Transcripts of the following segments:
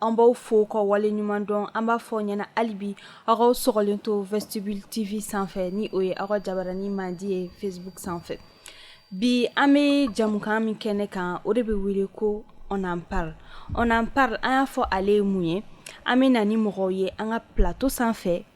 an b'aw fo ka wale ɲuman dɔn an b'a fɔ aw ɲɛna halibi aw k'aw sɔgɔlen to vestibule tv sanfɛ ni o ye aw ka jabaranin mandi ye facebook sanfɛ bi an bɛ jamukan min kɛnɛ kan o de bɛ wele ko on en parle on en parle an y'a fɔ ale ye mun ye an bɛ na ni mɔgɔw ye an ka plateau sanfɛ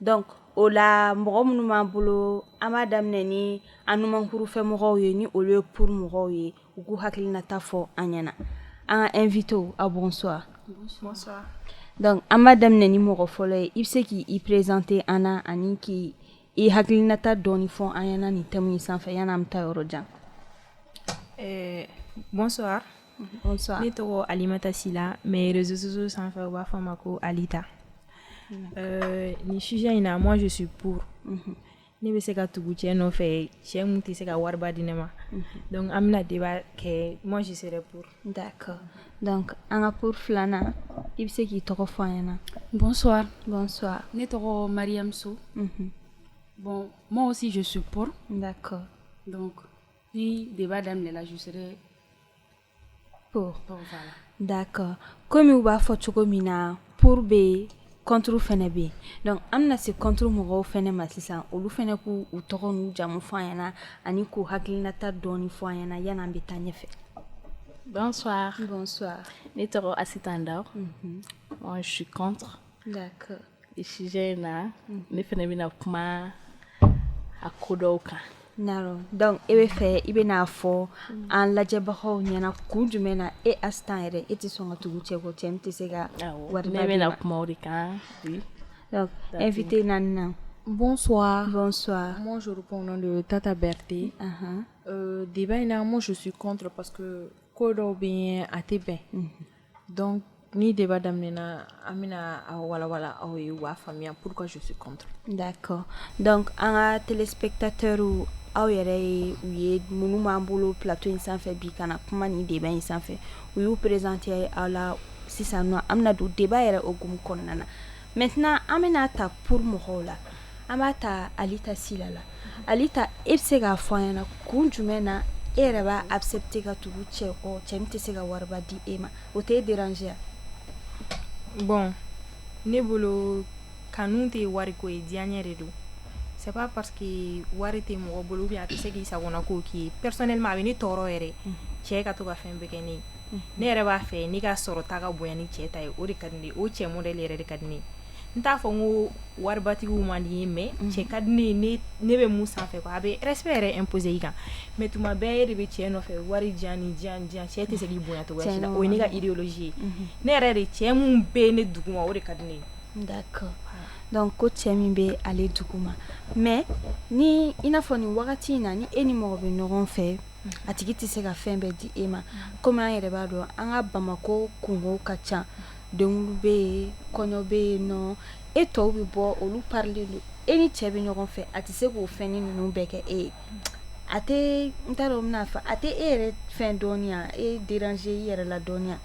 donc o la mɔgɔ minnu b'an bolo an b'a daminɛ ni an numankurufɛ mɔgɔw ye ni olu ye pour mɔgɔw ye u k'u hakilinata fɔ an ɲɛna an ka invité aw bonsoir donc an b'a daminɛ ni mɔgɔ fɔlɔ ye i bɛ se k'i présenter an na ani k'i hakilinata dɔɔni fɔ an ɲɛna nin thème in sanfɛ yanni an bɛ taa yɔrɔ jan bonsoir ne tɔgɔ alimata sila mais réseaux sociaux sanfɛ u b'a fɔ n ma ko alita euh, nin sujet in na moi je suis pour mhm. ne bɛ se ka tugu cɛ nɔfɛ cɛ mun tɛ se ka wariba di ne ma mhm. donc an bɛna débat kɛ moi je serai pour d'accord donc an ka pour filanan i bɛ se k'i tɔgɔ fɔ an ɲɛna bonsoir bonsoir ne tɔgɔ mariam so mhm. bon moi aussi je suis pour d'accord donc Ni de b'a daminɛminɛnajusɛri ko dakɔ kɔmi u b'a fɔ cogo min na poro bɛ yen kɔnturu fana bɛ yen an bɛna se kɔnturu mɔgɔw fana ma sisan olu fana ko u tɔgɔ n'u jamu fɔ an ɲɛnaana ani ko hakilinata dɔn fɔ an ɲɛnaana yan bɛ taa ɲɛfɛ ne tɔgɔ asi tan da su kɔn D'accord. Nin sujet in na mm. ne fana bɛna kuma a ko dɔw kan naro donc e b'a fɛ i bɛna a fɔ mm. an lajɛbagaw ɲɛna kun jumɛn na e asitan yɛrɛ e tɛ sɔn ka tugu cɛ kɔ cɛ min tɛ se ka wari ne bɛna kuma o de kan donc invité naaninan Bonsoir. Bonsoir. Moi, je réponds au nom de Tata Berté. Uh -huh. euh, débat in na, moi, je suis contre parce que ko dɔw bɛ yen a tɛ bɛn. Mm -hmm. Donc ni débat daminɛna an bɛna a walawala aw ye aw b'a faamuya pourquoi je suis contre. D'accord donc an ka téléspectateurs aw yɛrɛ ye u ye minnu b'an bolo plateau in sanfɛ bi ka na kuma nin débat in sanfɛ u y'u présenter aw la sisan nɔ an bɛna don débat yɛrɛ hukumu kɔnɔna na. Maintenant an bɛna a ta pour mɔgɔw la an b'a ta alita sila la alita e bɛ se k'a fɔ an ɲɛna kun jumɛn na e yɛrɛ b'a accepter ka tugu cɛ kɔ cɛ min tɛ se ka wariba di e ma o t'e déranger wa bon ne bolo kanu tɛ wariko ye diyanye de don c'est pas parce que wari tɛ mɔgɔ bolo ou bien a tɛ se k'i sagonako k'i ye personnellement a bɛ ne tɔɔrɔ yɛrɛ cɛ ka to ka fɛn bɛɛ kɛ ne ne yɛrɛ b'a fɛ ne ka sɔrɔ ta ka bonya ni cɛ ta ye o de ka di ne ye o cɛ modèle yɛrɛ de ka di ne ye n t'a fɔ n ko waribatigiw man di n ye mais cɛ ka di ne ye ne bɛ mun sanfɛ a bɛ respect yɛrɛ imposer i kan mais tuma bɛɛ e de bɛ cɛ nɔfɛ wari di yan nin di yan cɛ tɛ se k'i bonya cogo si la o ye ne ka idéologie ye ne yɛrɛ de cɛ min bɛ ne duguma o de ka di ne ye donc ko cɛ min bɛ ale duguma mais ni i n'a fɔ nin wagati in na ni e ni mɔgɔ bɛ ɲɔgɔn fɛ a tigi tɛ se ka fɛn bɛɛ di e ma kɔmi an yɛrɛ b'a dɔn an ka Bamakɔ kunko ka ca denkundi bɛ yen kɔɲɔ bɛ yen nɔ e tɔw bɛ bɔ olu parilen don e ni cɛ bɛ ɲɔgɔn fɛ a tɛ se k'o fɛn ni ninnu bɛɛ kɛ e ye a tɛ n t'a dɔn n bɛna a fɔ a tɛ e yɛrɛ fɛn dɔɔni ya e déranger i yɛrɛ la dɔɔni ya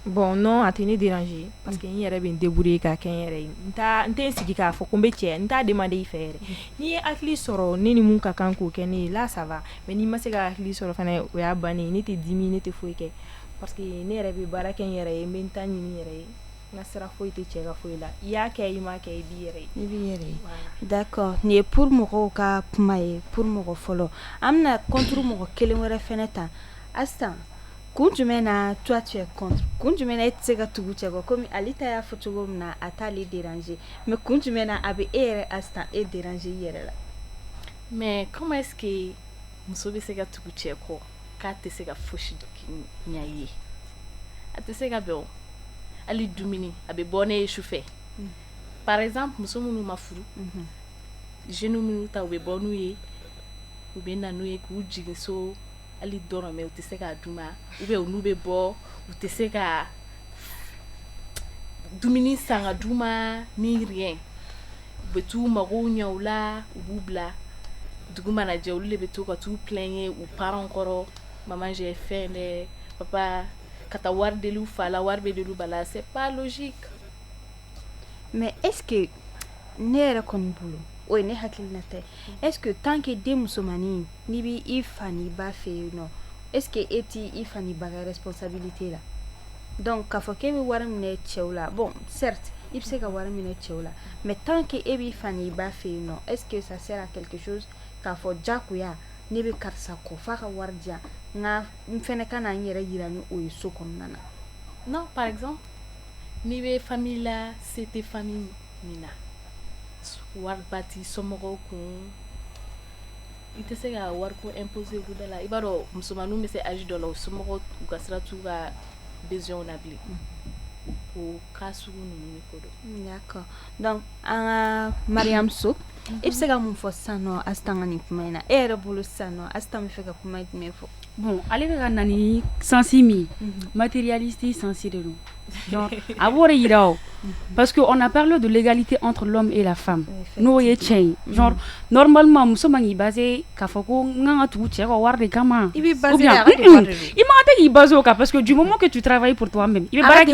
Bon non a tɛ ne déranger parce que n yɛrɛ bɛ n débrouiller k'a kɛ n yɛrɛ ye n tɛ n sigi k'a fɔ ko n bɛ cɛ n t'a demander i fɛ yɛrɛ n'i ye hakili sɔrɔ ne ni min ka kan k'o kɛ ne ye là ça va mais n'i ma se ka hakili sɔrɔ fana o y'a ban ne tɛ dimi ne tɛ foyi kɛ parce que ne yɛrɛ bɛ baara kɛ n yɛrɛ ye n bɛ n ta ɲini n yɛrɛ ye n ka sira foyi tɛ cɛ ka foyi la i y'a kɛ i m'a kɛ i b'i yɛrɛ ye d'accord nin ye pour mɔgɔw ka kuma ye pour mɔgɔ fɔlɔ an bɛna contre mɔgɔ kelen wɛrɛ fɛnɛ ta kun jumɛn na toi tu es contre kun jumɛn na e tɛ se ka tugu cɛ kɔ komi Alita y'a fɔ cogo min na a t'ale déranger mais kun jumɛn na a bɛ e yɛrɛ Asita e déranger i yɛrɛ la mais comment est-ce que muso bɛ se ka tugu cɛ kɔ k'a tɛ se ka fosi ɲɛ i ye a tɛ se ka bɛn o hali dumuni a bɛ bɔ n'e ye sufɛ mm. par exemple muso minnu ma furu mhm. jeunes minnu ta u bɛ bɔ n'u ye u bɛ na n'u ye k'u jigin so hali dɔrɔmɛ u tɛ se k'a d'u ma ou bien n'u bɛ bɔ u tɛ se ka dumuni san ka d'u ma ni rien u bɛ taa u mago ɲɛ u la u b'u bila dugu mana jɛ olu de bɛ to ka taa u plaigner u parents kɔrɔ maman j'ai faim dɛ papa ka taa wari deli u fa la wari bɛ deli u ba la c'est pas logique mais est-ce que ne yɛrɛ kɔni bolo o ye ne hakilina tɛ est-ce que tant que den musomannin N'i b'i fa n'i ba fɛ yen nɔ est-ce que e t'i fa n'i ba ka responsabilité la donc k'a fɔ k'e bɛ wari minɛ cɛw la bon certes i bɛ se ka wari minɛ cɛw la mais tant que e b'i fa ni i ba fɛ yen nɔ est-ce que ça sert à quelque chose k'a fɔ jagoya ne bɛ karisa kɔ f'a ka wari di yan nka n fɛnɛ ka na n yɛrɛ yira ni o ye so kɔnɔna na non par exemple n'i bɛ famille la se tɛ famille min na wariba t'i somɔgɔw kun I tɛ se ka wari ko imposer olu da la i b'a dɔn musomanninw bɛ se âge dɔ la u somɔgɔw u ka sira t'u ka besoin na bilen o cas sugu ninnu ko don d'accord donc an ka Mariam So i bɛ se ka mun fɔ sisan nɔ Astan ka nin kuma in na e yɛrɛ bolo sisan nɔ Astan bɛ fɛ ka kuma jumɛn fɔ Bon ale bɛ ka na ni sansi min matérialiste sansi de don a b'o de yira o parce que on a parlé de l'égalité entre l'homme et la femme n'o ye cɛ ye genre normalement muso man k'i baser k'a fɔ ko n kan ka tugu cɛ ka wari de kama i i ma tɛ k'i baser o kan parce que du moment que tu travailles pour toi-même i bɛ baara kɛ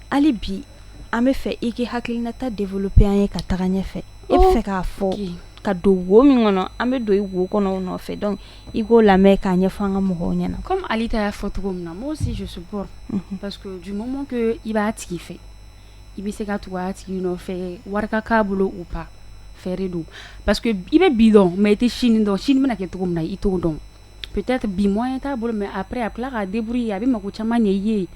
Hali bi an bɛ fɛ i k'i hakilinata développer an ye ka taga ɲɛfɛ e bɛ fɛ k'a fɔ ka don wo min kɔnɔ an bɛ don i wo kɔnɔ o nɔfɛ donc i k'o lamɛn k'a ɲɛfɔ an ka mɔgɔw ɲɛna kɔmi Alita y'a fɔ cogo min na moi aussi je supporte parce que du moment que i b'a tigi fɛ i bɛ se ka tugu a tigi nɔfɛ wari ka k'a bolo ou pas fɛ de don parce que i bɛ bi dɔn mais i tɛ sini dɔn sini bɛna kɛ cogo min na i t'o dɔn Peut-être bi moyen t'a bolo mais après a bɛ tila k'a débrouiller a bɛ mako caman ɲɛ i ye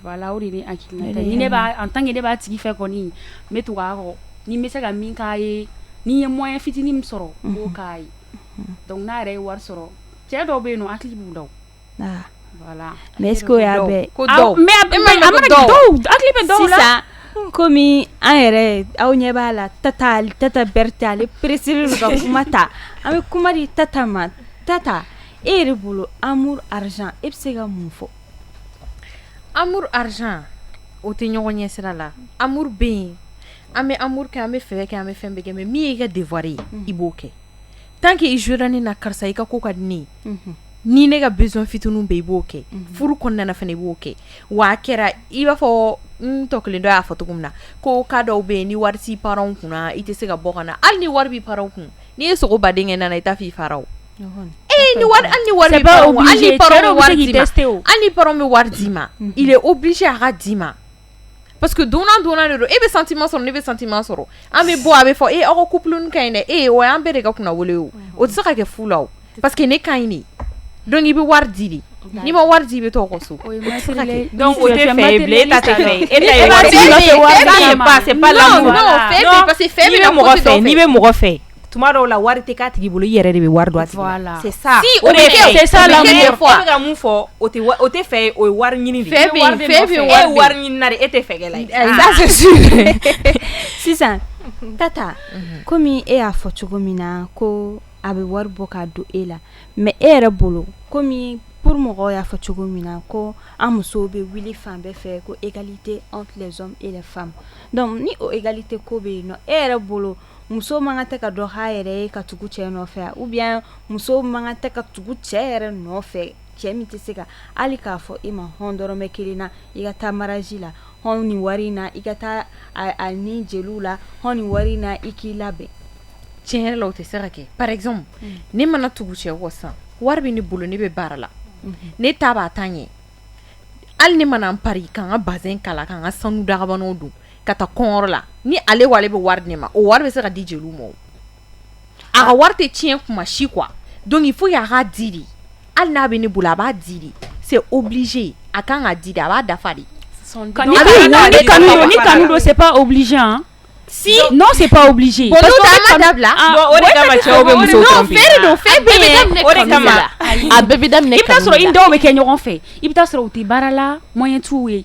voilà o de ye ne hakilinata ye ni ne b'a en tant que ne b'a tigi fɛ kɔni n bɛ tugu a kɔ ni n bɛ se ka min k'a ye ni n ye moyen fitinin min sɔrɔ n b'o k'a ye donc n'a yɛrɛ ye wari sɔrɔ cɛ dɔw bɛ yen nɔ hakili b'u la o. Kɔmi an yɛrɛ aw ɲɛ b'a la Tata Berete ale pressélen ka kuma ta an bɛ kuma di Tata ma Tata e yɛrɛ bolo amour argent e bɛ se ka mun fɔ amour argent o tɛ ɲɔgɔn ɲɛ sira la amour bɛ yen an bɛ amour kɛ an bɛ fɛ kɛ an bɛ fɛn bɛɛ kɛ mais min y'i ka devoir ye i b'o kɛ Tant que i y'a jira ne na karisa i ka ko ka di ne ye ni ne ka besoin fitininw bɛ i b'o kɛ furu kɔnɔna fana i b'o kɛ wa a kɛra i b'a fɔ n tɔ kelen dɔ y'a fɔ cogo min na ko cas dɔw bɛ yen ni wari t'i parents kunna i tɛ se ka bɔ ka na hali ni wari b'i parents kun n'i ye sogo baden kɛ nana i t'a fɔ i faraw ye hali ni parents bɛ wari d'i ma il est obligé a ka d'i ma Parce que donnant donnant de don e bɛ sentiment sɔrɔ ne bɛ sentiment sɔrɔ an bɛ bɔ a bɛ fɔ e aw ka couple ka ɲi dɛ e o y'an bɛɛ de ka kunnawolo ye o tɛ se ka kɛ fu la o parce que ne ka ɲi de donc i bɛ wari di de n'i ma wari di i bɛ to aw ka so e bɛ mɔgɔ fɛ tuma dɔw la wari tɛ k'a tigi bolo i yɛrɛ de bɛ wari don a tigi la voilà c'est ça si o bɛ kɛ o c'est ça l'amour e bɛ ka mun fɔ o tɛ o tɛ fɛ ye o ye wari ɲini de ye fɛ bɛ yen fɛ bɛ yen e ye wari ɲini na de e tɛ fɛ kɛla ye ça c'est sûr sisan Tata komi e y'a fɔ cogo min na ko a bɛ wari bɔ k'a don e la mais e yɛrɛ bolo komi pour mɔgɔw y'a fɔ cogo min na ko an musow bɛ wuli fan bɛɛ fɛ ko égalité entre les hommes et les femmes donc ni o égalité ko bɛ yen nɔ e yɛrɛ bolo muso man kan tɛ ka dɔ k'a yɛrɛ ye ka tugu cɛ nɔfɛ ou bien muso man kan tɛ ka tugu cɛ yɛrɛ nɔfɛ cɛ min tɛ se ka hali k'a fɔ e ma hɔn dɔrɔmɛ kelen na i ka taa mariage la hɔn nin wari in na i ka taa a ni jeliw la hɔn nin wari in na i k'i labɛn tiɲɛ yɛrɛ la o tɛ se ka kɛ par exemple ne mana tugu cɛ kɔ sisan wari bɛ ne bolo ne bɛ baara la ne ta b'a ta ɲɛ hali ne mana n pari ka n ka bazin kala ka n ka sanu dagabanw don ka taa kɔn la ni ale wale bɛ wari de ma o wari bɛ se ka di jeliw ma a ka wari tɛ tiɲɛ kuma si kuwa don fo y'a'a di hali n'a bɛ ne bolo a b'a di se o bilisiz a kan ka di a b'a dafa de don pa bilisiz a ma di a ma di a bɛ kɛ ɲɔgɔn fɛ i bɛ sɔrɔ u tɛ baara la mɔ tu ye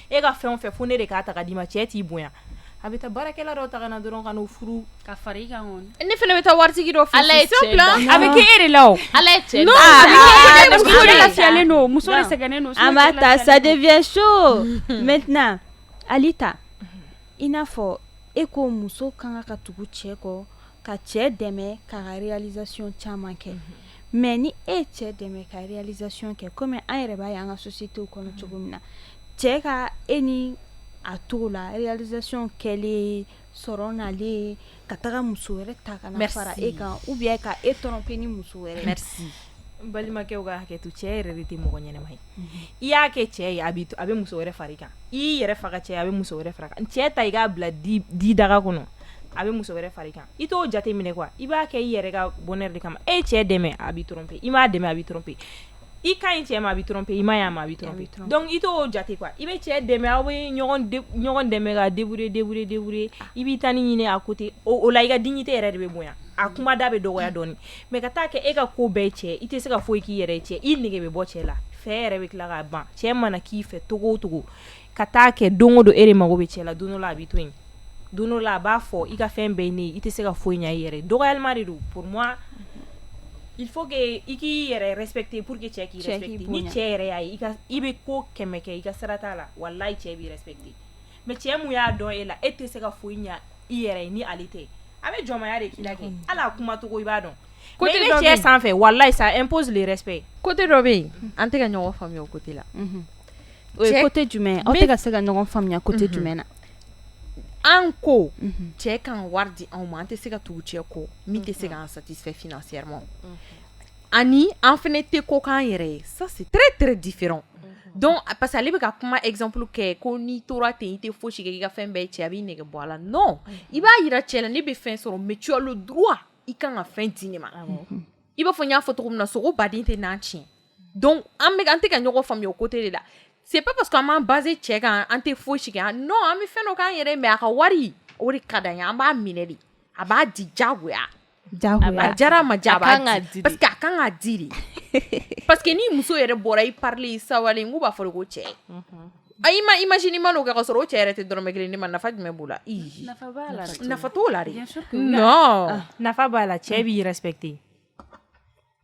e ka fɛn o fɛn fo ne de k'a ta ka d'i ma cɛ t'i bonya a bɛ taa baarakɛla dɔ ta ka na dɔrɔn ka n'o furu ka fara i kan kɔni ne fana bɛ taa waritigi dɔ fɛ Ala ye cɛ dan. a bɛ kɛ e de la o Ala ye cɛ non dan. a bɛ kɛ e de la muso de lafiyalen don muso de sɛgɛnnen don an b'a ta ça devient chaud maintenant Alita i n'a fɔ e ko muso ka kan ka tugu cɛ kɔ ka cɛ dɛmɛ k'a ka réalisation caman kɛ Mais ni e cɛ dɛmɛ ka réalisation kɛ kɔmi an yɛrɛ b'a ye an ka société kɔnɔ cogo min na cɛ ka e ni a tɔgɔ la réalisation kɛlen sɔrɔ nalen ka taga muso wɛrɛ ta ka na fara e kan ou bien ka e tromper ni muso wɛrɛ balimakɛw ka hakɛto cɛ yɛrɛ de tɛ mɔgɔ ɲɛnama ye i y'a kɛ cɛ ye a bɛ a bɛ muso wɛrɛ fara i kan i yɛrɛ faga cɛ a bɛ muso wɛrɛ fara i kan cɛ ta i k'a bila di daga kɔnɔ a bɛ muso wɛrɛ fara i kan i t'o jate minɛ quoi i b'a kɛ i yɛrɛ ka bonheur de kama e cɛ dɛmɛ a b'i tromper i m'a dɛmɛ a b'i tromper i ka ɲi cɛ ma a b'i tromper i man ɲi a ma a b'i tromper donc i t'o jate quoi i bɛ cɛ dɛmɛ aw bɛ ɲɔgɔn dɛmɛ ka débrouiller débrouiller débrouiller i b'i tanin ɲini à côté o la i ka dignité yɛrɛ de bɛ bonya a kuma da bɛ dɔgɔya dɔɔni Mais ka taa kɛ e ka ko bɛɛ cɛ i tɛ se ka foyi k'i yɛrɛ cɛ i nɛgɛ bɛ bɔ cɛ la fɛ yɛrɛ bɛ tila ka ban cɛ mana k'i fɛ cogo o cogo ka taa kɛ don o don e de mago bɛ cɛ la don dɔ la a b'i to yen don dɔ la a b'a fɔ i ka fɛn bɛɛ ne i tɛ se ka foyi ɲɛ i yɛrɛ dɔgɔyalima de don pour moi il faut que i k'i yɛrɛ respecter pour que cɛ k'i respecter ni cɛ yɛrɛ y'a ye i bɛ ko kɛmɛ kɛ i ka sira t'a la walahi cɛ b'i respecter mais cɛ min y'a dɔn e la e tɛ se ka foyi ɲɛ i yɛrɛ ye ni ale tɛ a bɛ jɔnmaya de k'i la kɛ hali a kumacogo i b'a dɔn mais i bɛ cɛ sanfɛ walahi ça impose le respect côté dɔ bɛ yen an tɛ ka ɲɔgɔn faamuya o côté la o ye côté jumɛn aw tɛ ka se ka ɲɔgɔn faamuya côté jumɛn na an ko cɛ kan wari di anw ma an tɛ se ka tugu cɛ kɔ min tɛ se k'an satisfait financièrement ani an fɛnɛ tɛ ko k'an yɛrɛ ye ça c'est très très différent donc parce que ale bɛ ka kuma exemple kɛ ko n'i tora ten i tɛ fosi kɛ k'i ka fɛn bɛɛ cɛ a b'i nege bɔ a la non i b'a yira cɛ la ne bɛ fɛn sɔrɔ mais tu as le droit i kan ka fɛn di ne ma i b'a fɔ n y'a fɔ cogo min na sogo baden tɛ n'an tiɲɛ donc an bɛ an tɛ ka ɲɔgɔn faamuya o côté de la c'est pas parce que an b'an baser cɛ kan an tɛ fosi kɛ non an bɛ fɛn dɔ k'an yɛrɛ mais a ka wari o de ka d'an ye an b'a minɛ de a b'a di jagoya A jara ma ja a b'a di parce que a kan k'a di de parce que ni muso yɛrɛ bɔra i parilen i sawalen k'u b'a fɔ de ko cɛ a i ma imagine i m'o kɛ ka sɔrɔ o cɛ yɛrɛ tɛ dɔrɔmɛ kelen d'i ma nafa jumɛn b'o la nafa t'o la de non nafa b'a la cɛ b'i respecter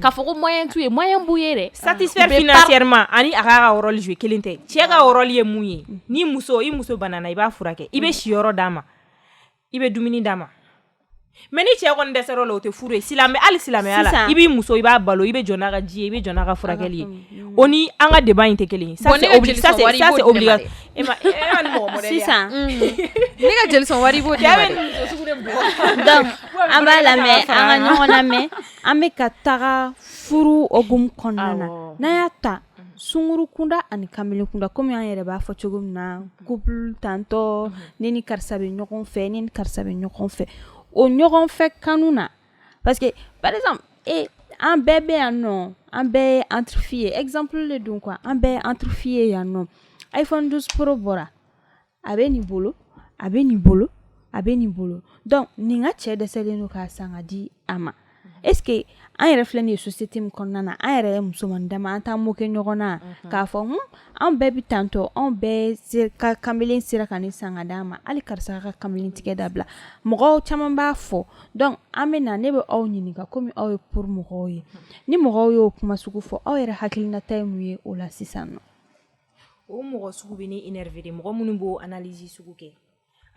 k'a fɔ ko moyen t'u ye moyen b'u ye de satisfaire financièrement ani a k'a ka rôle jouer kelen tɛ cɛ ka rôle ye mun ye ni muso i muso banana i b'a furakɛ i bɛ siyɔrɔ d'a ma i bɛ dumuni d'a ma mais ni cɛ kɔni dɛsɛra o la o tɛ furu ye silamɛ hali silamɛya la i b'i muso i b'a balo i bɛ jɔ n'a ka ji ye i bɛ jɔ n'a ka furakɛli ye o ni an ka débat in tɛ kelen ye ça c'est obligatoire E ma e ma nin mɔgɔ modèle ye a sisan unhun ne ka jeli sɔn wari i b'o di ne ma dɛ cɛ bɛ nin muso sugu de bugɔ donc an b'a lamɛ an ka ɲɔgɔn lamɛ an bɛ ka taga furu hokumu kɔnɔna na awɔ n'an y'a ta sunguru kunda ani kanbelen kunda comme an yɛrɛ b'a fɔ cogo min na couple tantɔ ne ni karisa bɛ ɲɔgɔn fɛ ne ni karisa bɛ ɲɔgɔn fɛ o ɲɔgɔn fɛ kanu na parce que par exemple et an bɛɛ bɛ yan nɔ an bɛɛ ye entre filles ye exemple de don quoi an bɛɛ ye entre filles ye yan nɔ iPhone 12 Pro bɔra a bɛ nin bolo a bɛ nin bolo a bɛ nin bolo donc nin ka cɛ dɛsɛlen don k'a san k'a di a ma est-ce que an yɛrɛ filɛ nin ye société min kɔnɔna na an yɛrɛ ye musoman dama an t'an moquer ɲɔgɔn na k'a fɔ hun anw bɛɛ bɛ tantɔ anw bɛɛ ka kanbelen sera ka nin san k'a d'an ma hali karisa ka kanbelen tigɛ dabila mɔgɔw caman b'a fɔ donc an bɛ na ne bɛ aw ɲininka kɔmi aw ye pour mɔgɔw ye ni mɔgɔw y'o kuma sugu fɔ aw yɛrɛ hakilinata ye mun ye o la sisan nɔ o mɔgɔ sugu bɛ ne énerver de mɔgɔ minnu b'o analyse sugu kɛ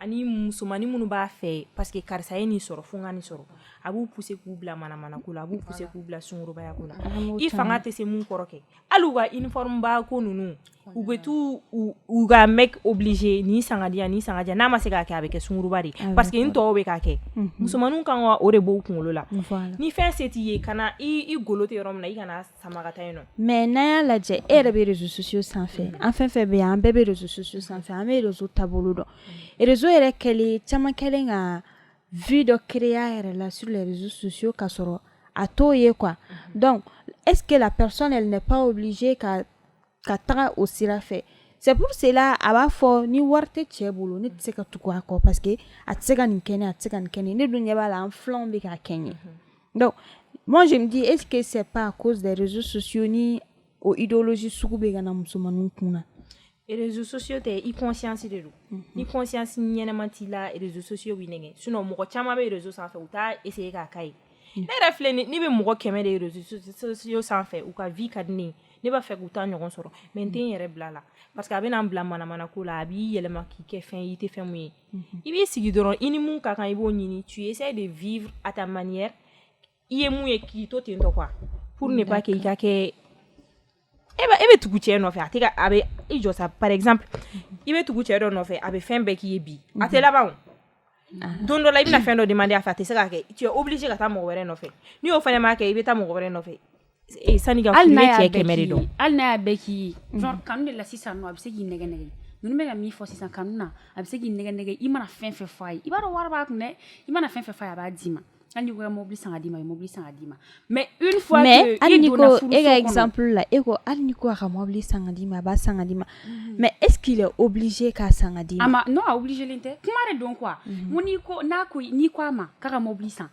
ani musomannin minnu b'a fɛ parce que karisa ye nin sɔrɔ fo n ka nin sɔrɔ a b'u pousser k'u bila manamana ko la a b'u pousser k'u bila sungurubaya ko la i fanga tɛ se mun kɔrɔ kɛ hali u ka uniforme ba ko ninnu u bɛ t'u u ka mec obliger nin san k'a di yan nin san k'a di yan n'a ma se k'a kɛ a bɛ kɛ sunguruba de ye parce que n tɔw bɛ k'a kɛ musomanninw kan ka o de b'u kunkolo la ni fɛn se t'i ye kana i golo tɛ yɔrɔ min na i kana mais n'an y'a lajɛ e yɛrɛ bɛ réseaux sociaux sanfɛ an fɛn fɛn bɛ yan an bɛɛ bɛ réseaux sociaux sanfɛ an bɛ réseau taabolo dɔn réseau yɛrɛ kɛlen caman kɛlen ka vie dɔ créer a yɛrɛ la sur les réseaux sociaux k'a sɔrɔ a t'o ye quoi donc est-ce que la personne elle n'est pas obligée ka taga o sira fɛ c'est pour cela a b'a fɔ ni wari tɛ cɛ bolo ne tɛ se ka tugu a kɔ parce que a tɛ se ka nin kɛ n ye a tɛ se ka nin kɛ n ye ne dun ɲɛ b'a la an filanw bɛ k'a kɛ ɲɛ Donc, moi, je me dis, est-ce que c'est pas à cause des réseaux sociaux ni aux idéologies sougoubi gana musulmanu kuna? Et les réseaux sociaux, t'es y conscience de l'eau. Mhm. Ni conscience ni y'a menti là, les réseaux sociaux, oui, n'est-ce Sinon, mon gars, chama les réseaux sans faire, ou t'as essayé qu'à caille. Ne yɛrɛ filɛ ni bɛ mɔgɔ kɛmɛ de réseaux sociaux sanfɛ u ka vie ka di ne ye ne b'a fɛ k'u ta ɲɔgɔn sɔrɔ mais n tɛ n yɛrɛ bila la parce que a bɛna n bila manamana ko la a b'i yɛlɛma k'i kɛ fɛn i tɛ fɛn min ye mhm. i b'i sigi dɔrɔn i ni min ka kan i b'o ɲini tu essaies de vivre à ta manière i ye min ye k'i to ten tɔ quoi pour ne pas que i ka kɛ e bɛ e bɛ tugu cɛ nɔfɛ a tɛ ka a bɛ i jɔ sa par exemple i bɛ tugu cɛ dɔ nɔfɛ a bɛ fɛn bɛɛ k'i ye bi a tɛ mhm. laban o ah. don dɔ la i bɛna fɛn dɔ demander a fɛ a tɛ se k'a kɛ tu es obligé ka taa mɔgɔ wɛrɛ nɔfɛ ni o fana m'a kɛ i bɛ taa mɔgɔ wɛrɛ nɔfɛ Ee sani ka furu cɛ kɛmɛ de dɔn hali n'a y'a bɛɛ k'i ye genre kanu de la sisan nɔ a bɛ se k'i nɛgɛ nɛgɛ ninnu bɛ ka min fɔ sisan kanu na a bɛ se k'i nɛgɛ nɛgɛ i mana fɛn fɛn f'a ye i b'a dɔn wari b'a kun dɛ i mana fɛn fɛn f'a ye a b'a d'i ma hali n'i ko i ka mobili san ka d'i ma a bɛ mobili san ka d'i ma mais une fois que mais hali n'i ko e ka exemple la e ko hali n'i ko a ka mobili san ka d'i ma a b'a san ka d'i ma mais est ce qu'il est obligé k'a san ka d'i ma a ma non a obligé len tɛ kuma de don quoi n ko n'i ko n'a ko n'i ko a ma k'a ka mobili san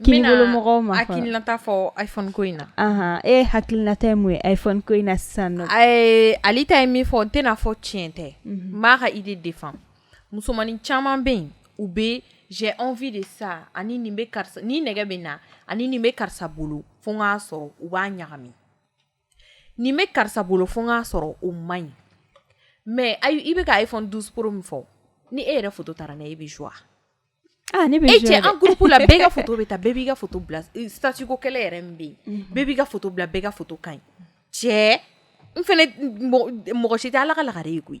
Mɔgɔw ma hakilinata fɔ iphone ko in na e hakilinata ye mun ye iphone ko in na sisan ale ta ye min fɔ n tɛna fɔ tiɲɛ tɛ n b'a ka idée défend musomannin caman bɛ yen u bɛ j'ai envie de ça ani nin bɛ karisa nin nɛgɛ bɛ n na ani nin bɛ karisa bolo fo n k'a sɔrɔ u b'a ɲagami nin bɛ karisa bolo fo n k'a sɔrɔ o man ɲi mais ayi i bɛ ka iphone 12 pro min fɔ ni e yɛrɛ foto taara n'a ye e bɛ joie Ah, ne bɛ e cɛ an groupe la bɛɛ ka photo bɛ ta bɛɛ b'i ka photo bila eh, statut ko kɛlɛ yɛrɛ min bɛ yen mhm. bɛɛ b'i ka photo bila bɛɛ ka photo ka ɲi cɛ n fana mɔgɔ si tɛ ala ka lagare ye koyi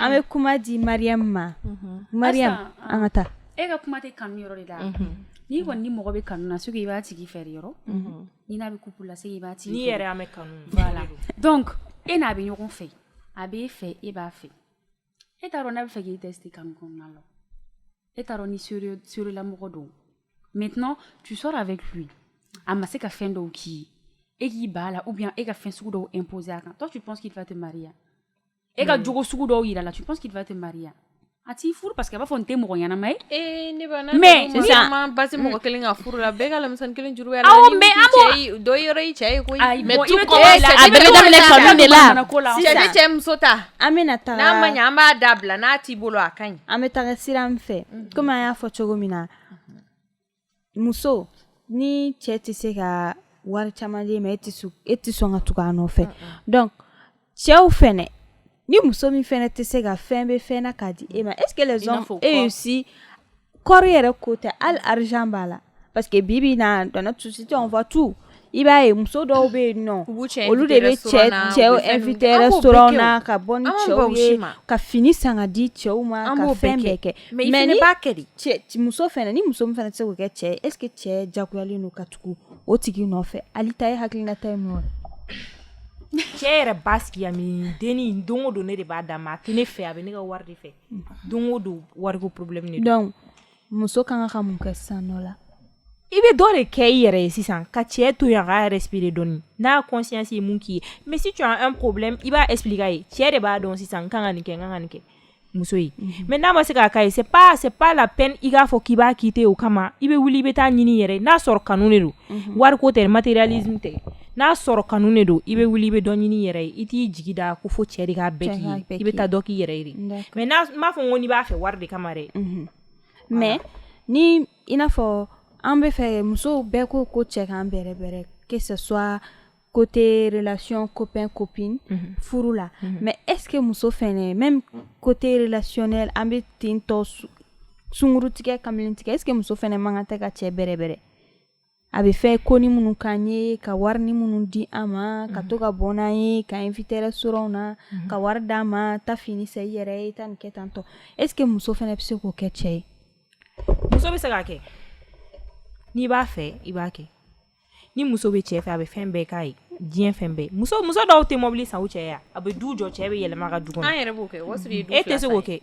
An bɛ kuma di Mariam ma Mariam an ka taa e ka kuma tɛ kanu yɔrɔ de la n'i kɔni ni mɔgɔ bɛ kanu na so i b'a tigi fɛ yɔrɔ ni n'a bɛ couple la i b'a dɔn e n'a bɛ ɲɔgɔn fɛ a bɛ e fɛ e b'a fɛ e t'a dɔn n'a b'a fɛ k'i tester kanu kɔnɔna la e t'a dɔn ni sérieux la mɔgɔ don maintenant tu sors avec lui a ma se ka fɛn dɔw k'i ye e k'i ba la ou bien e ka fɛn sugu dɔw imposer a kan toi tu penses qu'il va te marier e ka jogo sugu dɔw yira la tu penses qu'il va te marier a t'i furu parce que a b'a fɔ n tɛ mɔgɔ ɲɛnama ye eh, ne ba mais sisan basi mɔgɔ kelen ka furu la bɛɛ ka lamisɛnni kelen juru bɛ la aw mais an b'o dɔ yɔrɔ i cɛ ye koyi mais tu commences a bɛɛ bɛ daminɛ kanu de la sisan ne cɛ muso ta an bɛna taa n'a ma ɲɛ an b'a dabila n'a t'i bolo a ka ɲi an bɛ taga sira min fɛ mhm. komi an y'a fɔ cogo min na muso ni cɛ tɛ se ka wari caman d'e ma e tɛ sɔn ka tugu a nɔfɛ donc cɛw fɛnɛ ni muso min fɛnɛ tɛ se ka fɛn bɛ fɛn na k'a di e ma est ce que les hommes aussi kɔrɔ yɛrɛ ko tɛ hali argent b'a la parce que bi bi in na dans notre société on voit tout i b'a ye muso dɔw bɛ yen nɔ olu de bɛ cɛ cɛw inviter restaurant na ka bɔ ni cɛw ye ka fini san ka di cɛw ma ka fɛn bɛɛ kɛ mais ni cɛ muso fɛnɛ ni muso min fɛnɛ tɛ se k'o kɛ cɛ ye est ce que cɛ jagoyalen don ka tugu o tigi nɔfɛ Ali ta ye hakilinata ye mun ye cɛ yɛrɛ b'a sigi a miiri de ni don o don ne de b'a d'a ma a tɛ ne fɛ a bɛ ne ka wari de fɛ don o don wariko problème de don donc muso ka kan ka mun kɛ sisan nɔ la i bɛ dɔ de kɛ i yɛrɛ ye sisan ka cɛ to yan k'a respirer dɔɔni n'a y'a conscience ye mun k'i ye mais si tu as un problème i b'a expliquer a ye cɛ de b'a dɔn sisan n kan ka nin kɛ n kan ka nin kɛ muso ye mhm. mais n'a ma se k'a k'a ye c'est pas c'est pas la peine i k'a fɔ k'i b'a quitter o kama i bɛ wuli i bɛ taa ɲini yɛrɛ n'a sɔrɔ kanu de don mhm. wariko tɛ matérialisme tɛ n'a sɔrɔ kanu de don i bɛ wuli i bɛ dɔ ɲini yɛrɛ ye i t'i jigi da ko fo cɛ de k'a bɛɛ k'i ye i bɛ taa dɔ k'i yɛrɛ ye de mais n m'a fɔ ko n'i b'a fɛ wari de kama dɛ mais ni i n'a fɔ an bɛ fɛ musow bɛɛ ko ko cɛ k'an bɛrɛbɛrɛ que ce soit côté relation copain copine furu la mais est-ce que muso fɛnɛ même côté relationnel an bɛ tentɔ sungurutigɛ kamalentigɛ est-ce que muso fɛnɛ man kan tɛ ka cɛ bɛrɛbɛrɛ a bɛ fɛ ko ni minnu k'an ye ka wari ni minnu di an ma ka to ka bɔ n'an ye k'an inviter restaurant na ka wari d'an ma ta fini san i yɛrɛ ye taa nin kɛ tantɔ est-ce que muso fɛnɛ bɛ se k'o kɛ cɛ ye muso bɛ se k'a kɛ n'i b'a fɛ i b'a kɛ ni muso bɛ cɛ fɛ a bɛ fɛn bɛɛ k'a ye diɲɛ fɛn bɛɛ muso muso dɔw tɛ mobili san u cɛ ye a bɛ du jɔ cɛ bɛ yɛlɛma ka du e tɛ se k'o kɛ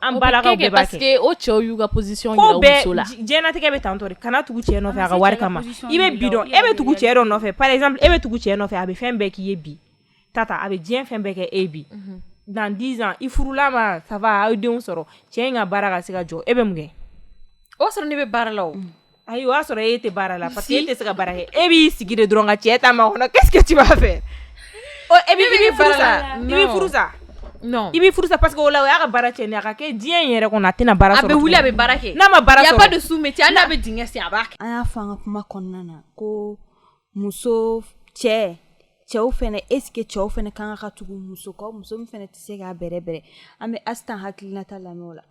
An balakaw bɛɛ b'a kɛ parce que o cɛw y'u ka position yira u muso la diɲɛlatigɛ bɛ tantɔ de kana tugu cɛ nɔfɛ a ka wari kama i bɛ bi dɔn e bɛ tugu cɛ dɔ nɔfɛ par exemple e bɛ tugu cɛ nɔfɛ a bɛ fɛn bɛɛ k'i ye bi ta a bɛ diɲɛ fɛn bɛɛ kɛ e bi dans dix ans i furula ma ça va aw ye denw sɔrɔ cɛ in ka baara ka se ka jɔ e bɛ mun kɛ o sɔrɔ ne bɛ baara la Ayi o y'a sɔrɔ e tɛ baara la parce que e tɛ se ka baara kɛ e b'i sigi de dɔrɔn ka cɛ ta makɔnɔ qu'est-ce que tu vas faire ɔ e bɛ i bɛ furu sa i bɛ furu sa non i bɛ furu sa parce que o la o y'a ka baara cɛnnen ye a ka kɛ diɲɛ in yɛrɛ kɔnɔ a tɛna baara sɔrɔ a bɛ wuli a bɛ baara kɛ n'a ma baara sɔrɔ il y a pas de sous-métier hali n'a bɛ dingɛ sen a b'a kɛ an y'a fɔ an ka kuma kɔnɔna na ko muso cɛ cɛw fɛnɛ est-ce que cɛw fɛnɛ kan ka tugu muso kɔ muso min fɛnɛ tɛ se k'a bɛrɛbɛrɛ an bɛ Astan hakilinata lamɛn o la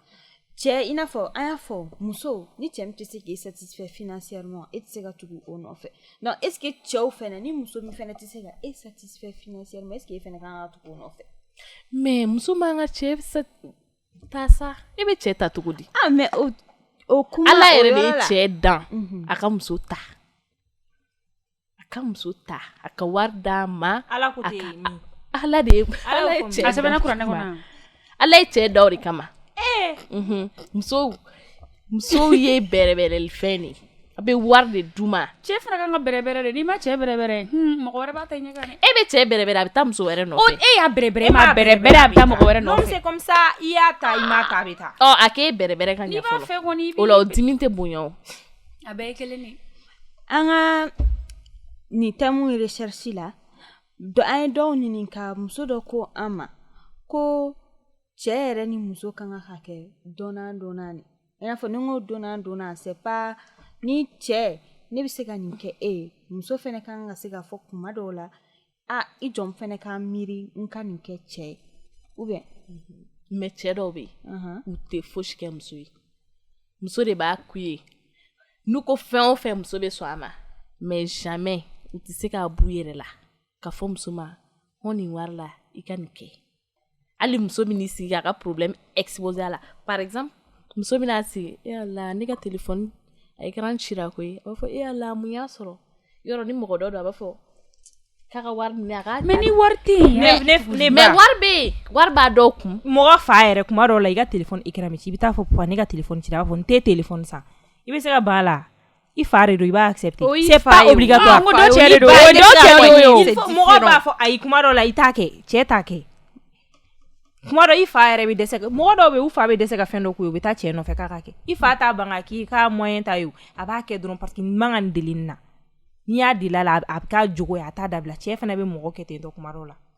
cɛ i n'a fɔ an y'a fɔ muso ni cɛ min tɛ se k'i satisfaire financièrement e tɛ se ka tugu o nɔfɛ est-ce que cɛw fɛnɛ ni muso min fɛnɛ tɛ se ka e satisfaire f financièrement est-ce que e fɛnɛ kan ka tugu o nɔfɛ mais muso man kan ka cɛ ta sa e bɛ cɛ ta cogo di ah, mais o kuma ala yɛrɛ de ye cɛ dan mhm. a ka muso ta a ka muso ta a ka wari d'a ma ala ala de ala ye cɛ da o de kama muso musow ye bɛrɛbɛrɛli fɛn de a bɛ wari de d'u ma cɛ fana kan ka bɛrɛbɛrɛ de n'i ma cɛ bɛrɛbɛrɛ mɔgɔ wɛrɛ b'a ta ɲɛ kan dɛ e bɛ cɛ bɛrɛbɛrɛ a bɛ taa muso wɛrɛ nɔfɛ e y'a bɛrɛbɛrɛ e m'a bɛrɛbɛrɛ a bɛ taa mɔgɔ wɛrɛ nɔfɛ c'est comme ça i y'a ta i m'a ta a bɛ taa a k'e bɛrɛbɛrɛ ka ɲɛ o la o dimi tɛ bonya a bɛɛ ye kelen de an ka nin thème recherche la an ye dɔw ɲininka muso dɔ ko an ma ko cɛ yɛrɛ ni muso ka kan ka kɛ donnant donnant de i n'a fɔ ni n ko donnant donnant c'est pas ni cɛ ne bɛ se ka nin kɛ e ye muso fɛnɛ kan ka se ka fɔ kuma dɔw la aa i jɔn fɛnɛ ka miiri n ka nin kɛ cɛ ye ou bien mhm. mais cɛ dɔw bɛ yen u tɛ fosi kɛ muso ye muso de b'a k'u ye n'u ko fɛn o fɛn muso bɛ sɔn a ma mais jamais u tɛ se k'a b'u yɛrɛ la k'a fɔ muso ma hɔn nin wari la i ka nin kɛ hali muso bɛ n'i sigi k'a ka problème exposer a la par exemple muso bɛna sigi e Ala ne ka téléphone a écran cira koyi a b'a fɔ e Ala mun y'a sɔrɔ yɔrɔ ni mɔgɔ dɔ don a b'a fɔ k'a ka wari minɛ a k'a mais ni wari tɛ yen mais ne ne ba mais wari bɛ yen wari b'a dɔw kun mɔgɔ fa yɛrɛ kuma dɔw la i ka téléphone écran bɛ ci i bɛ taa fɔ papa ne ka téléphone cira a b'a fɔ n tɛ téléphone san i bɛ se ka ban a la I fa de don i b'a accepter o y'i fa ye o c'est pas obligatoire ɔɔ n ko dɔ cɛ de don o ye dɔ cɛ de ye o il faut mɔgɔw b'a fɔ ayi kuma dɔw la i t'a kɛ cɛ t'a kɛ kuma dɔ i fa yɛrɛ bɛ dɛsɛ ka mɔgɔ dɔw bɛ yen u fa bɛ dɛsɛ ka fɛn dɔ k'u ye u bɛ taa cɛ nɔfɛ k'a ka kɛ i fa t'a ban k'a k'i k'a moyen t'a ye o a b'a kɛ dɔrɔn parce que nin man ka nin deli nin na n'i y'a deli a la a bɛ k'a jogo ye a t'a dabila cɛ fana bɛ mɔgɔ kɛ ten tɔ kuma dɔw la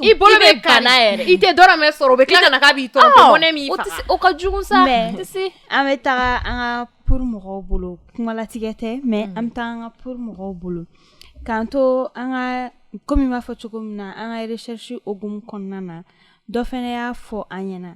I bolo bɛ kari yɛrɛ i tɛ dɔrɔmɛ sɔrɔ u bɛ tila ka k'a b'i tɔɔrɔ o ka jugu sa an bɛ taga an ka pour mɔgɔw bolo kumalatigɛ tɛ mais mm. an bɛ taga an ka pour mɔgɔw bolo k'an to an ka kɔmi b'a fɔ cogo min na an ka recherche hukumu kɔnɔna na dɔ fɛnɛ y'a fɔ an ɲɛna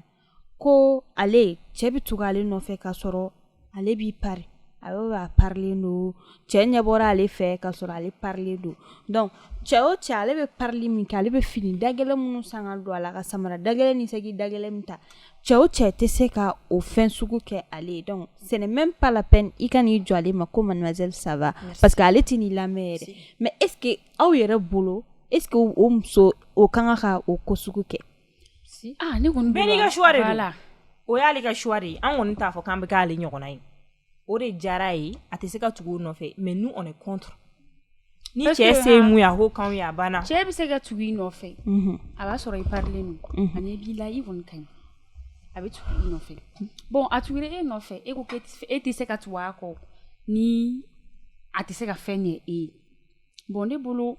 ko ale cɛ bɛ tugu ale nɔfɛ k'a sɔrɔ ale b'i pari a bɛ b'a parilen don cɛ ɲɛ bɔra ale fɛ k'a sɔrɔ ale parilen don donc cɛ o cɛ ale bɛ parili min kɛ ale bɛ fini dagɛlɛn minnu san ka don a la ka samara dagɛlɛn ni saki dagɛlɛn min ta cɛ o cɛ tɛ se ka o fɛn sugu kɛ ale ye donc ce n'est même pas la peine i ka n'i jɔ ale ma ko mademoiselle ça va parce que ale tɛ n'i lamɛn yɛrɛ mais est ce que aw yɛrɛ bolo est ce que o muso o ka kan ka o ko sugu kɛ ka o y'ale ka choix de ye an kɔni t'a fɔ k'an bɛ k'ale ɲɔgɔnna ye o de diyara ye a tɛ se ka tugu o nɔfɛ mais nous on est contre ni cɛ se ye mun ye a ko k'anw ye a banna cɛ bɛ se ka tugu i nɔfɛ a b'a sɔrɔ i parilen don a ɲɛ b'i la i kɔni ka ɲi a bɛ tugu i nɔfɛ bon a tugura e nɔfɛ e ko e tɛ se ka tugu a kɔ ni a tɛ se ka fɛn ɲɛ e ye bon ne bolo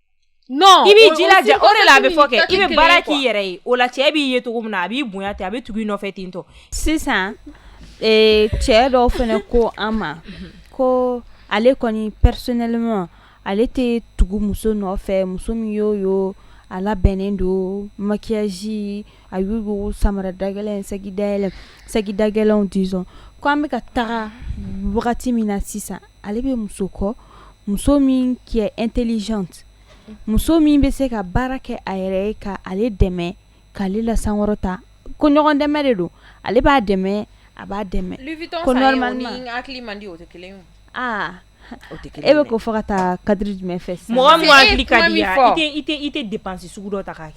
Non i b'i jilaja o de la a bɛ fɔ kɛ i bɛ baara k'i yɛrɛ ye o la cɛ b'i ye cogo min na a b'i bonya ten a bɛ tugu i nɔfɛ ten tɔ sisan ee cɛ dɔw fana ko an ma ko ale kɔni personnellement ale tɛ tugu muso nɔfɛ muso min y'o ye o a labɛnnen don maquillage a y'o ye o samara dagɛlɛn saki dagɛlɛn saki dagɛlɛnw disons ko an bɛka taga wagati min na sisan ale bɛ muso kɔ muso min qui est intelligente muso min bɛ se ka baara kɛ a yɛrɛ ye ka ale dɛmɛ k'ale lasankɔrɔta ko ɲɔgɔn dɛmɛ de don ale b'a dɛmɛ a b'a dɛmɛ e bɛ ko fɔ ka taa cadre jumɛn fɛ mɔgɔ tɛ dépense sugu dɔ ta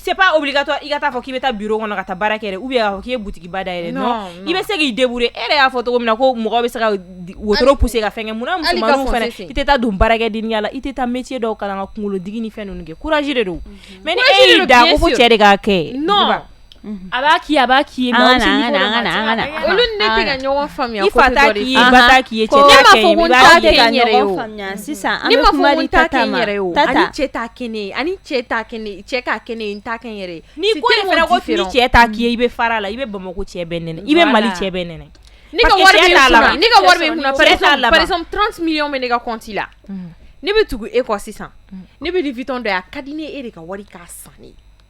Se wuli ka i ka taa fɔ k'i bɛ taa bi kɔnɔ ka taa baara kɛ u bɛ k'i butigiba da yɛrɛ i bɛ se k'i de e y'a fɔ cogo min na ko mɔgɔ bɛ se ka woro tɛ se ka fɛn i tɛ taa don baarakɛ di la i tɛ taa mi dɔw ka kan ka kunkolo digi ni fɛn kɛ kuraji de don mɛ cɛ de' kɛ A b'a k'i ye a b'a k'i ɲɔgɔn k'i i bɛ fara la i bɛ bamakɔ cɛ i bɛ mali cɛ la ne bɛ tugu e kɔ sisan ne bɛ Louis Vuitton dɔ ye a ka di ne ye e de ka wari k'a san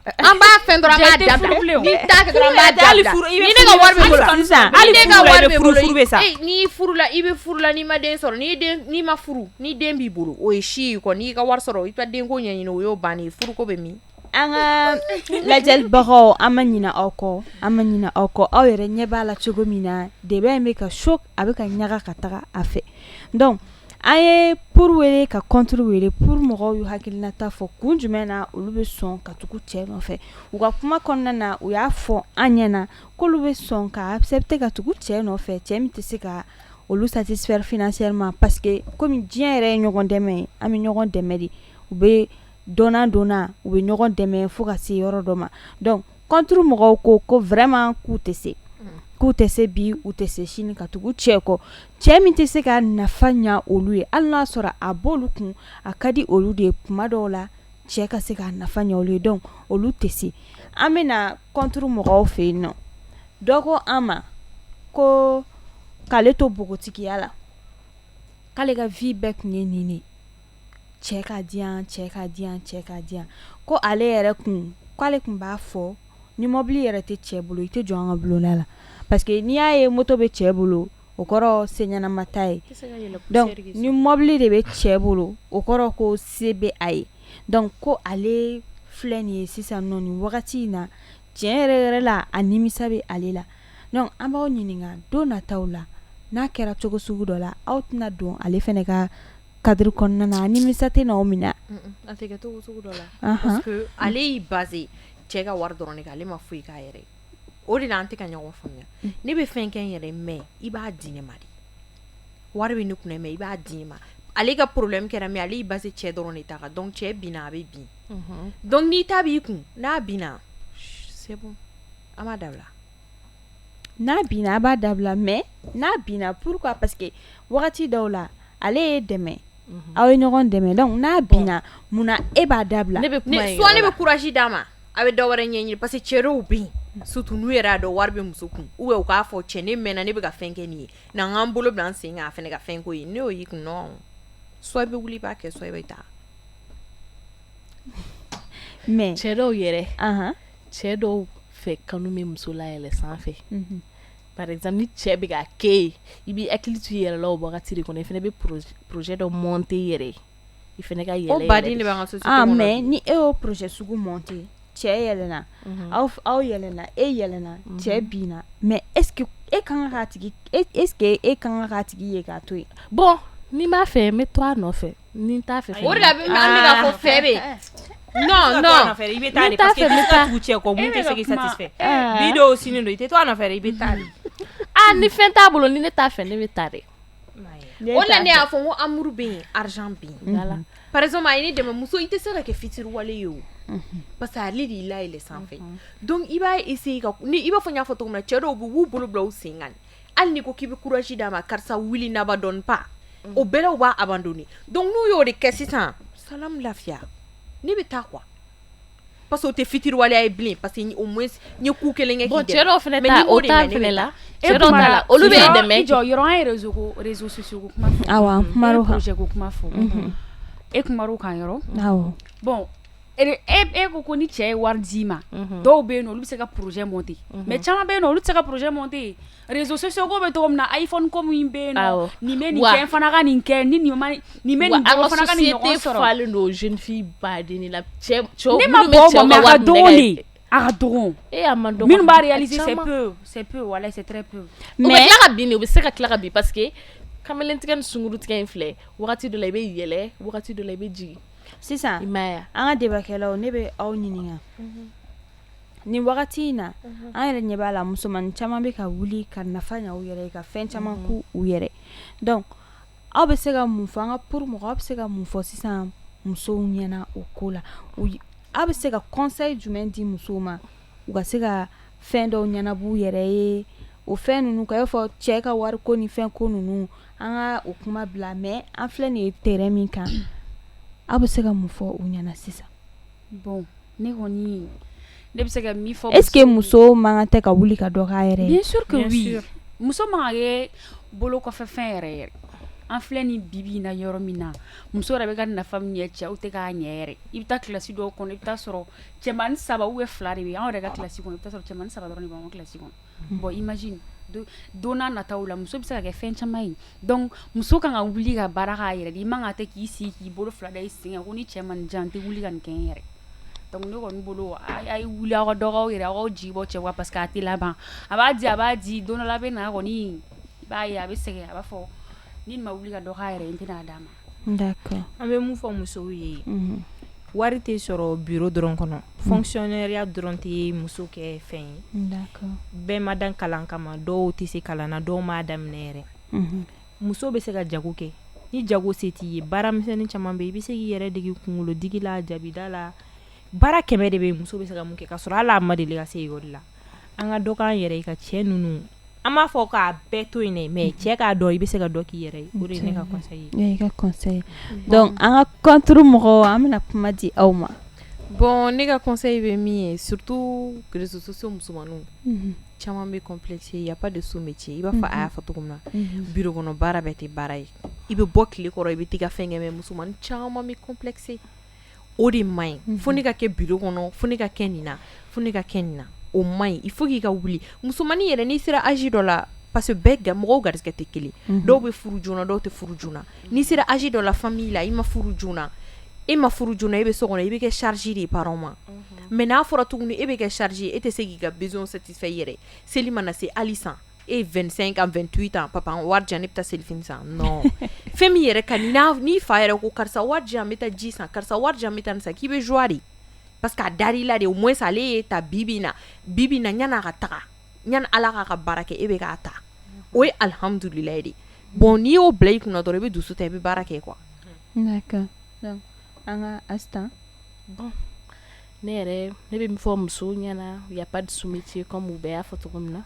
An b'a fɛn dɔrɔn an b'a dabila furu bɛ sa n'i furula i bɛ furu la n'i ma den sɔrɔ n'i ma furu ni den b'i bolo o ye si ye kɔ n'i ka wari sɔrɔ i ka denko ɲɛɲini o y'o bannen ye furuko bɛ min an ka lajɛlibagaw an ma ɲina aw kɔ an ma ɲina aw kɔ aw yɛrɛ ɲɛ b'a la cogo min na débat in bɛ ka choc a bɛ ka ɲaga ka taga a fɛ An ye pour wele ka contre wele pour mɔgɔw y'u hakilinata fɔ kun jumɛn na olu bɛ sɔn ka tugu cɛ nɔfɛ u ka kuma kɔnɔna na u y'a fɔ an ɲɛ na k'olu bɛ sɔn ka accepter ka tugu cɛ nɔfɛ cɛ min tɛ se ka olu satisfaire financièrement parce que kɔmi diɲɛ yɛrɛ ye ɲɔgɔn dɛmɛ ye an bɛ ɲɔgɔn dɛmɛ de u bɛ donnant donnant u bɛ ɲɔgɔn dɛmɛ fo ka se yɔrɔ dɔ ma donc contre mɔgɔw ko ko vraiment k'u tɛ se k'u tɛ se bi u tɛ se sini ka tugu cɛ kɔ cɛ min tɛ se ka nafa ɲɛ olu ye hali n'a sɔrɔ a b'olu kun a ka di olu de ye kuma dɔw la cɛ ka se ka nafa ɲɛ olu ye donc olu tɛ se an bɛna na contre mɔgɔw fɛ yen nɔ dɔ ko an ma ko k'ale to npogotigiya la k'ale ka vie bɛɛ tun ye nin cɛ ka di cɛ ka di cɛ ka di ko ale yɛrɛ kun k'ale tun b'a fɔ ni mɔbili yɛrɛ tɛ cɛ bolo i tɛ jɔ an ka bulonda la parce que n'i y'a ye moto bɛ cɛ bolo o kɔrɔ se ɲɛnama t'a ye ni mɔbili de bɛ cɛ bolo o kɔrɔ ko se bɛ a ye donc ko ale filɛ nin ye sisan nɔ nin wagati in na tiɲɛ yɛrɛ yɛrɛ la a nimisa bɛ ale la an b'aw ɲininka don nataw la n'a kɛra cogo sugu dɔ la aw tɛna don ale fana ka cadre kɔnɔna na nimisa tɛna aw minɛ parce que ale y'i basé cɛ ka wari dɔrɔn de kan ale ma foyi k'a yɛrɛ ye o de la an tɛ ka ɲɔgɔn faamuya ne bɛ fɛn kɛ n yɛrɛ mais i b'a di ne ma de wari bɛ ne kun mais i b'a di ne ma ale ka problème kɛra mais ale y'i basé cɛ dɔrɔn de ta kan donc cɛ binna a bɛ bin donc n'i ta b'i kun n'a binna c'est bon an b'a dabila n'a binna a b'a dabila mais n'a binna pourquoi parce que wagati dɔw la ale ye dɛmɛ aw ye ɲɔgɔn dɛmɛ donc n'a binna munna e b'a dabila soit ne bɛ courage d'a ma a bɛ dɔ wɛrɛ ɲɛɲini parce que cɛ dɔw bɛ yen surtout n'u yɛrɛ y'a dɔn wari bɛ muso kun ou bien u k'a fɔ cɛn ne mɛnna ne bɛ ka fɛn kɛ nin ye na an k'an bolo bila an sen kan a fana ka fɛn ko ye n'o y'i kun soit i bɛ wuli i b'a kɛ soit i bɛ taa mais cɛ dɔw yɛrɛ cɛ dɔw fɛ kanu bɛ muso layɛlɛ sanfɛ par exemple ni cɛ bɛ ka kɛ i ye i b'i hakili to i yɛrɛ la o wagati de kɔnɔ i fana bɛ projet dɔ monter i yɛrɛ ye i fana ka yɛlɛ mais ni e y'o projet sugu monter cɛ yɛlɛna aw aw yɛlɛna e yɛlɛna cɛ binna mais est-ce que e ka kan k'a tigi est-ce que e ka kan k'a tigi ye k'a to yen bon ni n b'a fɛ n bɛ to a nɔfɛ Ni n t'a fɛ fɛn o de la an bɛ k'a fɔ fɛn bɛ yen non non i bɛ taa de parce que n'i taara tugu cɛ kɔ min tɛ se k'i satisfait bi don sini don i tɛ to a nɔfɛ dɛ i bɛ taa de aa ni fɛn t'a bolo ni ne t'a fɛ ne bɛ taa dɛ o de la ne y'a fɔ n ko amour bɛ yen argent bɛ yen par exemple a ye ne dɛmɛ muso i tɛ se ka kɛ fitiriwale ye o parce que ale de y'i layɛlɛn sanfɛ donc i b'a essayer ka ni i b'a fɔ n y'a fɔ cogo min na cɛ dɔw bɛ yen u b'u bolo bila u sen kan hali n'i ko k'i bɛ courage d'a ma karisa wuli n'abandonne pas o bɛɛ la u b'a abandonner donc n'u y'o de kɛ sisan salaam lafiya ne bɛ taa quoi parce que o tɛ fitiriwaleya ye bilen parce que au moins n ye coup kelen kɛ k'i dɛmɛ bon cɛ dɔw fana ta o ta fana la cɛ dɔw ta la olu bɛ dɛmɛ kɛ i jɔyɔrɔ an ye réseau ko réseaux sociaux ko kuma fɔ awɔ an kumana o kan i ye projet ko kuma fɔ e kumana o kan yɔrɔ awɔ bon e ko ko ni cɛ ye wari d'i ma dɔw bɛ yen olu bɛ se ka pjɛ mɔnte mɛ caman bɛ yen olu se ka pjɛ mɔnte rezsoso bɛ to min na a fɔ ko min bɛ nin bɛ nin fana ka nin kɛ ni nin sɔrɔlen don zfin ba den la cɛ ma a minnu u bɛ se ka tila ka bi pa que kamalentigɛ ni sunkuruuru tigɛ in filɛ dɔ la i bɛ yɛlɛ dɔ la i bɛ jigin sisan i m'a ye wa an ka débat kɛlaw ne bɛ aw ɲininka nin wagati in na an yɛrɛ ɲɛ b'a la musomanin caman bɛ ka wuli ka nafa ɲɛ u yɛrɛ ye ka fɛn caman k'u yɛrɛ donc aw bɛ se ka mun fɔ an ka pour mɔgɔw aw bɛ se ka mun fɔ sisan musow ɲɛna o ko la aw bɛ se ka conseil jumɛn di musow ma u ka se ka fɛn dɔw ɲɛnabɔ u yɛrɛ ye o fɛn ninnu kan i b'a fɔ cɛ ka wariko ni fɛn ko ninnu An ka o kuma bila mais an filɛ nin ye terrain min kan aw bɛ se ka mun fɔ u ɲɛna sisan bon ne kɔni ne bɛ se ka min fɔ est-ce que muso man kan tɛ ka wuli ka dɔ k'a yɛrɛ ye bien sûr que oui muso man ka kɛ bolo kɔfɛ fɛn ye yɛrɛ an filɛ ni bibi na yɔrɔ min na muso yɛrɛ bɛ ka nafa min ɲɛ cɛw tɛ k'a ɲɛ yɛrɛ i bɛ taa kilasi dɔw kɔnɔ i bɛ t'a sɔrɔ cɛman saba ou bien fila de bɛ anw yɛrɛ ka kilasi kɔnɔ i b'a sɔrɔ cɛman saba dɔrɔn de b'an ka kilasi kɔnɔ bon imagine don nataw la muso bɛ se ka kɛ fɛn caman ye donc muso ka kan ka wuli ka baara k'a yɛrɛ i man ka tɛ k'i sigi k'i bolo fila da i sen kan ko ni cɛ ma nin di yan n tɛ wuli ka nin kɛ n yɛrɛ donc ne kɔni bolo a ye wuli aw ka dɔ k'aw yɛrɛ aw jigi bɔ cɛ kan parce que a tɛ laban a b'a di a b'a di don dɔ la a bɛ na kɔni i b'a ye a bɛ sɛgɛn a b'a fɔ ni nin ma wuli ka dɔ k'a yɛrɛ n tɛna' d'a ma d'accord an bɛ mun fɔ musow ye, unhun, wari tɛ sɔrɔ bureau dɔrɔn kɔnɔ fonctionnaireya dɔrɔn tɛ muso kɛ fɛn ye, d'accord bɛɛ ma dan kalan kama dɔw tɛ se kalan na dɔw m'a daminɛ yɛrɛ, unhun, muso bɛ se ka jago kɛ ni jago se t'i ye baara misɛnnin caman bɛ yen i bɛ se k'i yɛrɛ dege kunkolodigi la jabida la baara kɛmɛ de bɛ yen muso bɛ se ka mun kɛ k'a sɔrɔ hali a ma deli ka se ekɔli la an ka dɔ k'an yɛrɛ ye ka cɛ ninnu an m'a fɔ k'a bɛɛ to yen mais cɛ k'a dɔn i bɛ se ka dɔ k'i yɛrɛ ye an ka contre mɔgɔw an bɛna kuma di aw ma bon ne ka conseil bɛ min ye surtout réseaux sociaux musomanin caman bɛ complexé y a pas de sot métier i b'a fɔ a y'a fɔ cogo min na bureau kɔnɔ baara bɛɛ tɛ baara ye i bɛ bɔ tile kɔrɔ i bɛ taa fɛn kɛ musoman caman bɛ complexé o de man ɲi fo ne ka kɛ bureau kɔnɔ fo ne ka kɛ nin na fo ne ka kɛ nin na o man ɲi il faut k'i ka wuli musomanin yɛrɛ n'i sera âge dɔ la parce que bɛɛ mɔgɔw garisɛgɛ tɛ kelen dɔw bɛ furu joona dɔw tɛ furu joona n'i sera âge dɔ la famille la i ma furu joona e ma furu joona e bɛ so kɔnɔ i bɛ kɛ charge de parents ma mais n'a fɔra tuguni e bɛ kɛ charge e tɛ se k'i ka besoin satisfait yɛrɛ seli mana na se hali san e 25 ans 28 ans papa wari di yan ne bɛ taa selifini san non fɛn min yɛrɛ ka ɲi i fa yɛrɛ ko karisa wari di yan n bɛ taa ji san karisa wari di yan n bɛ taa san k'i bɛ joie de parce que a dar'i la de au moins ale ye ta bibi na bibi na yanni a ka taga yan ala k'a ka baara kɛ e bɛ k'a ta o ye alihamdulilayi de bon n'i y'o bila i kun na dɔrɔn i bɛ dusu ta i bɛ baara kɛ quoi an ka ne yɛrɛ ne bɛ min fɔ musow ɲɛna y a pas de sous-métier comme u bɛɛ y'a fɔ cogo min na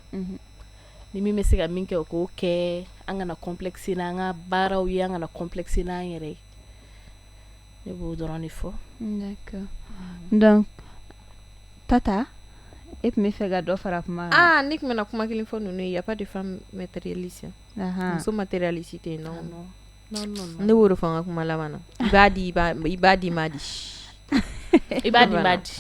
ni min bɛ se ka min kɛ o k'o kɛ an kana complexé n'an ka baaraw ye an kana complexé n'an yɛrɛ ye ne b'o dɔrɔn de fɔ Tata e tun bɛ fɛ ka dɔ fara kuma kan ne tun bɛna kuma kelen fɔ ninnu ye y a pas de femme matérialiste muso matérialiste tɛ yen non ne b'o de fɔ n ka kuma laban na i b'a di i b'a di b'a di i b'a di b'a di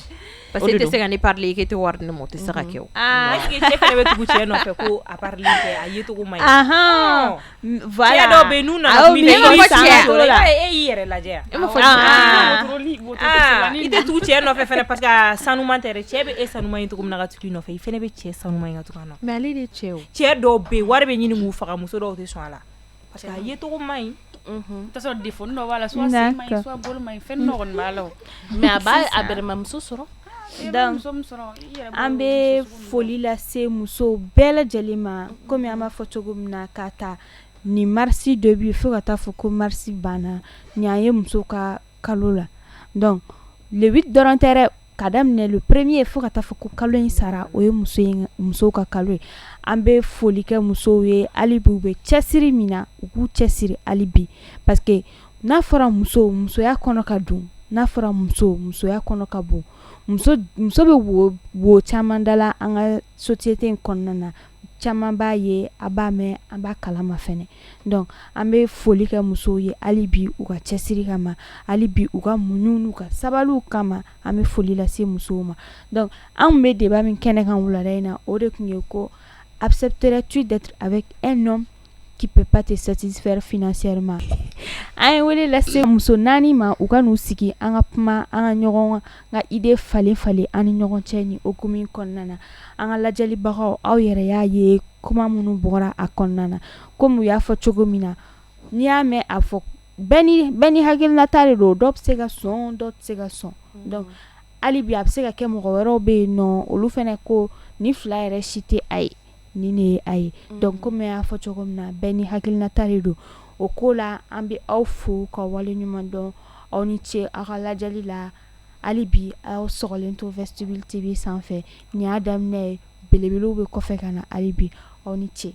parce que i tɛ se ka ne parler i k'e tɛ wari di ne ma o tɛ se ka kɛ o bɛ tugu cɛ nɔfɛ ko a a ye cogo man ɲi cɛ dɔw bɛ yen n'u nana e y'i yɛrɛ lajɛ i tɛ tugu cɛ nɔfɛ fana parce que a sanuman tɛ dɛ cɛ bɛ e sanuman ye cogo min na ka tugu i nɔfɛ i fana bɛ cɛ sanuman ye ka tugu a nɔfɛ mais ale de cɛ cɛ dɔw bɛ yen wari bɛ ɲini k'u faga muso dɔw tɛ sɔn a la Parce que a ye tɔgɔ ma ɲi sɔrɔ de fɔ b'a la mɛmuso sɔrɔ an bɛ foli lase muso bɛɛ lajɛlen ma kɔmi an b'a fɔ cogo min na ka taa ni marisi dɔ bɛ fo ka taa fɔ ko marisi banna ɲ ye muso ka kalo la dɔnku le dɔrɔn tɛ k'a daminɛ le premier fo ka taa fɔ ko kalo in sara o ye muso ka kalo ye an bɛ foli kɛ musow ye hali bi u bɛ cɛsiri min na u k'u cɛsiri hali bi parce que n'a fɔra muso musoya kɔnɔ ka dun n'a fɔra muso musoya kɔnɔ ka bon muso muso bɛ wo wo caman dala an ka société in kɔnɔna na caman b'a ye an b'a mɛn an b'a kalama fɛnɛ donc an bɛ foli kɛ musow ye hali bi u ka cɛsiri kama hali bi u ka muɲu n'u ka sabali kama an bɛ foli lase musow ma donc anw bɛ débat min kɛnɛ kan wulada in na o de tun ye ko accepterais-tu d'être avec un homme qui peut pas te satisfaire financièrement an ye wele lase muso naani ma u ka n'u sigi an ka kuma an ka ɲɔgɔn ka idée falen falen an ni ɲɔgɔn cɛ ni o hukumu kɔnɔna na an ka lajɛlibagaw aw yɛrɛ y'a ye kuma minnu bɔra a kɔnɔna na kɔmi u y'a fɔ cogo min na n'i y'a mɛn a fɔ bɛɛ n'i hakilinata de don dɔ bɛ se ka sɔn dɔ tɛ se ka sɔn donc hali bi a bɛ se ka kɛ mɔgɔ wɛrɛw bɛ yen n'olu fana ko nin fila yɛrɛ si tɛ a ye ni ne ye a ye donc kɔmi y'a fɔ cogo min na bɛɛ ni hakilinata de don o ko la an bɛ aw fo ka wale ɲuman dɔn aw ni ce aw ka lajɛli la hali bi aw sɔgɔlen to Vestibule TV sanfɛ nin y'a daminɛ ye belebelew bɛ kɔfɛ ka na hali bi aw ni ce